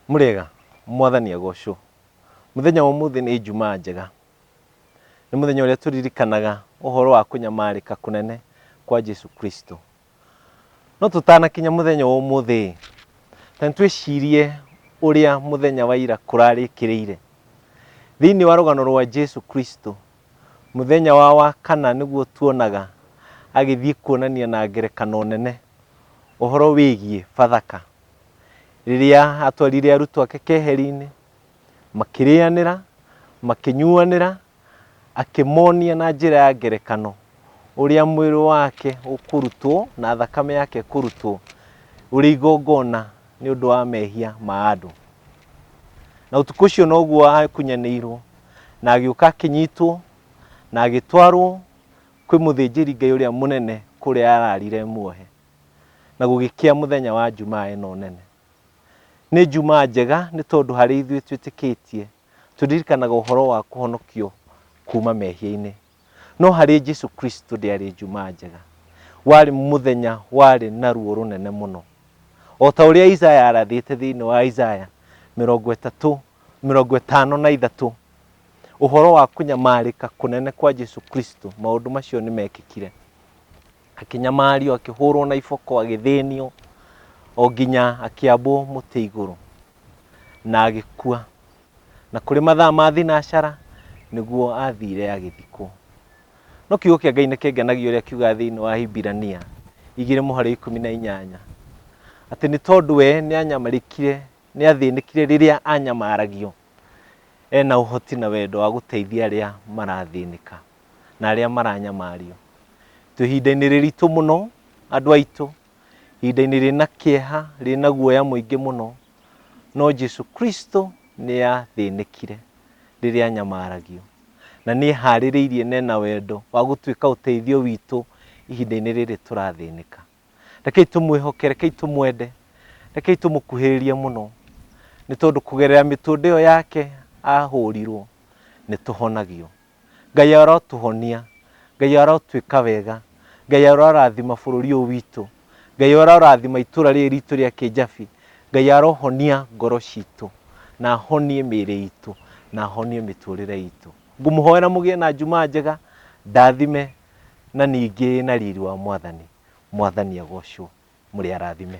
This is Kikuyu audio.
Mũrĩega, mwathani agocwo. Mũthenya wa ũmũthĩ nĩ Ijumaa njega. Nĩ mũthenya ũrĩa tũririkanaga ũhoro wa kũnyamarĩka kũnene kwa Jesu Kristo. No tũtanakinya mũthenya wa ũmũthĩ, ta nĩtwĩcirie ũrĩa mũthenya wa ira kũrarĩkĩrĩire. Thĩinĩ wa rũgano rwa Jesu Kristo, mũthenya wa wakana nĩguo tuonaga agĩthiĩ kuonania na ngerekano nene ũhoro wĩgiĩ Bathaka. Rĩrĩa atwarire arutwo ake keheri-inĩ, makĩrĩanĩra, makĩnyuanĩra, akĩmonia na njĩra ya ngerekano ũrĩa mwĩrĩ wake ũkũrutwo na thakame yake ĩkũrutwo ũrĩ igongona nĩ ũndũ wa mehia ma andũ. Na ũtukũ ũcio noguo akunyanĩirwo na agĩũka akĩnyitwo na agĩtwarwo kwĩ mũthĩnjĩri Ngai ũrĩa mũnene kũrĩa ararire muohe. na gũgĩkĩa mũthenya wa Jumaa ĩno nene. Nĩ Jumaa njega nĩ tondũ harĩ ithuĩ twĩtĩkĩtie tũririkanaga ũhoro wa kũhonokio kuma mehia-inĩ. No harĩ Jesu Kristo ndĩarĩ Jumaa njega. Warĩ mũthenya warĩ na ruo rũnene mũno. O ta ũrĩa Isaya arathĩte thĩinĩ wa Isaya mĩrongo ĩtatũ, mĩrongo ĩtano na ithatũ, ũhoro wa kũnyamarĩka kũnene kwa Jesu Kristo, maũndũ macio nĩ mekĩkire. akĩnyamario akĩhũrwo na iboko agĩthĩnio o nginya akĩambwo mũtĩ igũrũ na agĩkua na kũrĩ mathaa ma thinacara nĩguo athire agĩthikwo no kiugo kĩa ngai nĩ kĩngenagia ũrĩa kiuga thĩinĩ wa hibirania igĩrĩ mũhari ikũmi na inyanya atĩ nĩ tondũ we nĩ anyamarĩkire nĩ athĩnĩkire rĩrĩa anyamaragio ena ũhoti na wendo wa gũteithia arĩa marathĩnĩka na arĩa maranyamario. Twĩ ihinda-inĩ rĩritũ mũno andũ aitũ, ihinda-inĩ rĩna kĩeha, rĩna guoya mũingĩ mũno, no Jesu Kristo nĩ athĩnĩkire rĩrĩa anyamaragio na nĩ eharĩrĩirie na ena wendo wa gũtuĩka ũteithio witũ ihinda-inĩ rĩrĩ tũrathĩnĩka. Rekei tũmwĩhoke, rekei tũmwende, rekei tũmũkuhĩrĩrie mũno, nĩ tondũ kũgerera mĩtũndĩ ĩyo yake ahũrirwo nĩ tũhonagio. Ngai arotũhonia, Ngai arotwĩka wega, Ngai arorathima bũrũri ũyũ witũ, Ngai arorathima itũra rĩrĩ ritũ rĩa Kĩjabi, Ngai arohonia ngoro citũ, na ahonie mĩrĩ itũ, na ahonie mĩtũrĩre itũ. Ngũmũhoera mũgĩe na Jumaa njega ndathime na ningĩ ĩna riri wa Mwathani. Mwathani agocwo. Mũrĩ arathime.